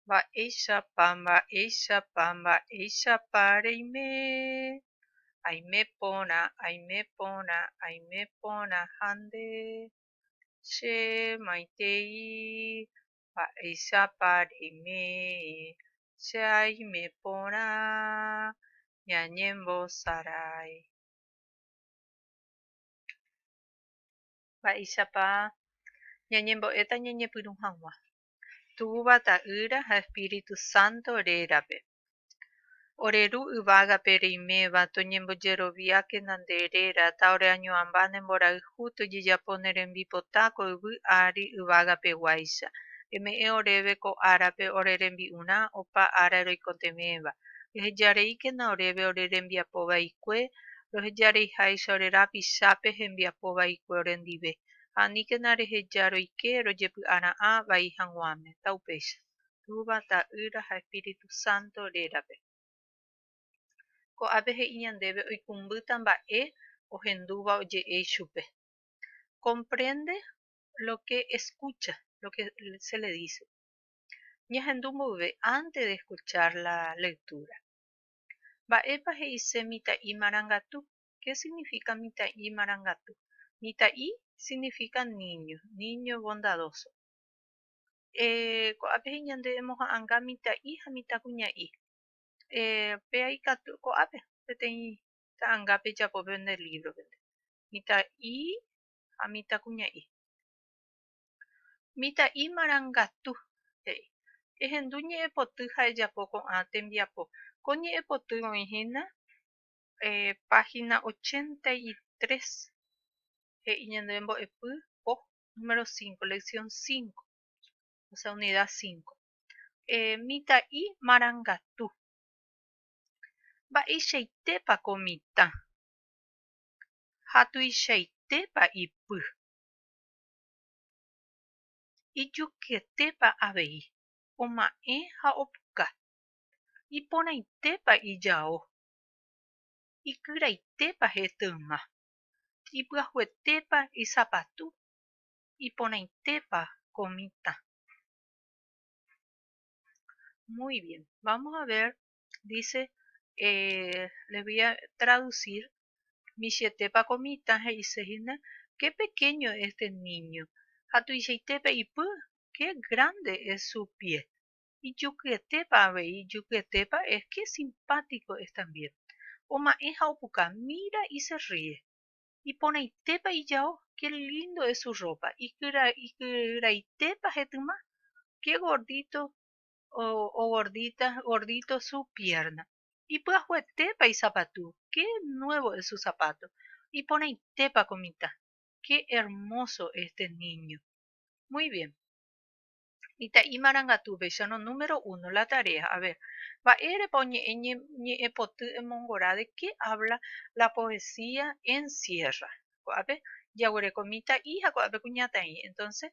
Mba'éichapa, mba'éichapa, mba'éichapa reime? Aime porã, aime porã, aime porã ha nde, che maitei, mba'éichapa reime? Che aime porã ñañembosarái. Mba'éichapa ñañembo'éta ñañepyrũ hag̃ua. Túva, Ta'ýra ha Espíritu Santo rérape. Ore Ru yvágape reiméva, toñembojeroviákena nde réra, ta ore añoamba ne mborayhu tojejapo ne rembipota ko yvy ári yvágapeguáicha. Eme'ẽ oréve ko árape ore rembi'urã opa ára roikotevẽva. Ehejareíkena oréve ore rembiapo vaikue, rohejareiháicha ore rapichápe hembiapo vaikue orendive. ha aníkena reheja roike rojepy'ara'ã vai hag̃uáme, taupéicha, Túva, Ta'ýra ha Espíritu Santo rérape. Ko ápe he'i ñandéve oikumbýta mba'e ohendúva oje'e ichupe. Comprende lo que escucha, lo que se le dice. Ñahendu mboyve antes de escuchar la lectura. Mba'épa he'ise mitã'i marangatu? Ké signifíka mitã'i marangatu? Mitã'i signifíka níño, níño bondadóso. Ko'ápe he'i ñande emoha'anga mitã'i ha mitãkuña'i. Péa ikatu ko'ápe peteĩ ta'anga pejapo pende lívropente, mitã'i ha mitãkuña'i. Mitã'i marangatu, he'i. Ehendu ñe'ẽpoty ha ejapo ko'ã tembiapo. Ko ñe'ẽpoty oĩ hína Página ochenta y tres, he'i ñande mbo'epy po número cinco, lección cinco, osea unidad cinco. Mitã'i marangatu. Mba'eichaitépa ko mitã ha tuichaitépa ipy? Ijukyetépa avei, oma'ẽ ha opuka? Iporãitépa ijao Ikyraitépa hete yma? Ipy'ahuetépa isapatu? Iporãitépa ko mitã? Muy bien, vamos a ver, dice, eh, les voy a traducir, michĩetépa ko mitã he'ise hína, qué pequeño es este niño, ha tuichaitépa ipy, qué grande es su pie. ijukyetépa avei, ijukyetépa es que simpático es también, oma'ẽ ha opuka, mira y se ríe, iporãitépa ijao, qué lindo es su ropa, ikyraitépa hetyma, qué gordito o gordita, gordito su pierna, ipyahuetépa isapatu, qué nuevo es su zapato, iporãitépa ko mitã, qué hermoso este niño. Muy bien. Mitã'i marangatu upéicha no número uno la tarea. A ver, mba'érepa oñe'ẽ ñe'ẽpoty emongora de qué habla la poesía Encierra. Ko'ápe jaguereko mitã'i ha ko'ápe kuñataĩ. Entonces,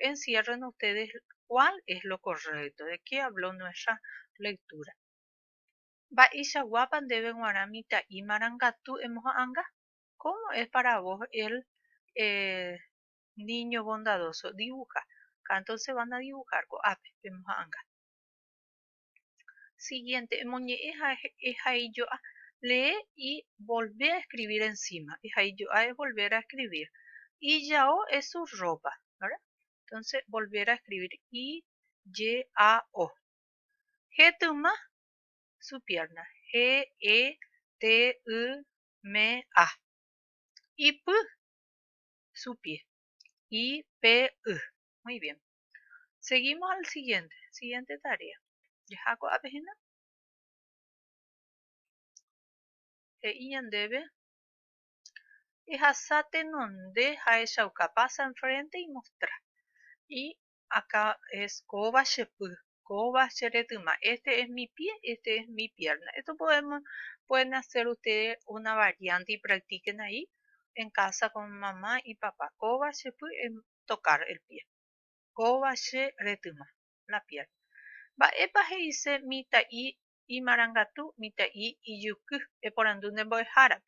enciérrenlo ustedes cuál es lo correcto, de qué habló nuestra lectura. Mba'eichaguápa ndéve g̃uarã mitã'i marangatu emoha'ãnga? Cómo es para vos el, eh, Niño bondadoso dibuja ka entónseva nadibuhár ko'ápe pemoha'ãnga. Siguiente, Emoñe'ẽ ha ehaijo'a Lee y volvé a escribir encima. Ehaijo'a es volver a escribir. Ijao es su ropa, ¿verdad? Entonces, volver a escribir. I-j-a-o. Jetyma, su pierna. G-e-t-y-m-a. Ipy, su pie. Y, P, y. Muy bien. Seguimos al siguiente. Siguiente tarea. Jaha ko'ápe apehena. He'i ñandéve. Ehasa tenonde ha echauka. Pasa enfrente y mostra. Y akaes kóva che py, kóva che retyma, este es mi pie, este es mi pierna, esto podemos, pueden hacer ustedes una variante y practiquen ahí en casa con mamá y papá, kóva che py es tocar el pie, kóva che retyma, la pierna. Mba'épa he'ise mitã'i imarangatu, mitã'i ijuky? eporandu nde mbo'ehárape.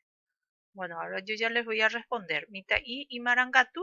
Bueno, ahora yo ya les voy a responder. Mitã'i imarangatu,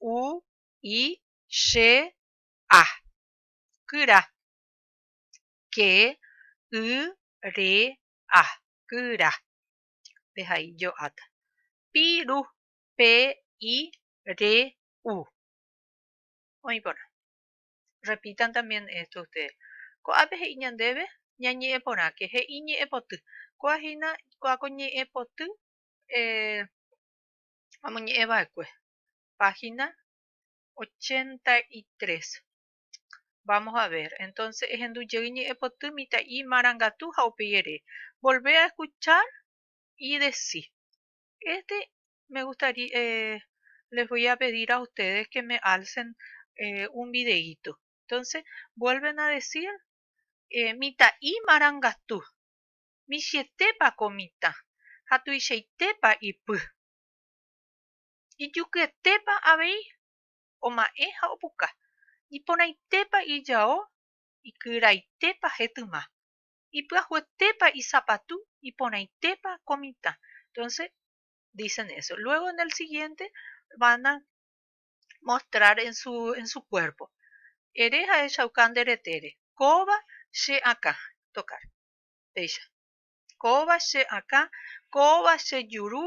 u, i, che, a. Kyra. Ke, y, re, a. Kyra. Pe ha i jo'áta. Pi, ru. Pe, i, re, u. Oĩ porã. Repitan también esto ustedes. Ko'ápe he'i ñandéve ñañe'ẽ porãke, he'i ñe'ẽ poty. Kóa hína, kóa ko ñe'ẽ poty eh, amoñe'ẽ va'ekue. página 83. Vamos a ver. Entonces, ehendu jey ñe'ẽpoty mitã'i marangatu ha upéi ere, volvé a escuchar y decí. Este me gustaría, eh, les voy a pedir a ustedes que me alcen eh, un videíto. Entonces, vuelven a decir eh, mitã'i marangatu. Michietépa ko mitã ha tuichaitépa ipy. Ijukyetépa avei oma'ẽ ha opuka, iporãitépa ijao, ikyraitépa hetyma, ipyahyetépa isapatu, iporãitépa ko mitã. Entonces, dicen eso. Luego en el siguiente van a mostrar en su, en su cuerpo. Ere jahechauka nde retére. Kóva che akã. Tocar. Péicha. Kóva che akã, kóva che juru,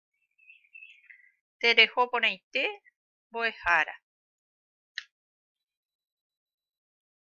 Tereho porãite mbo'ehára.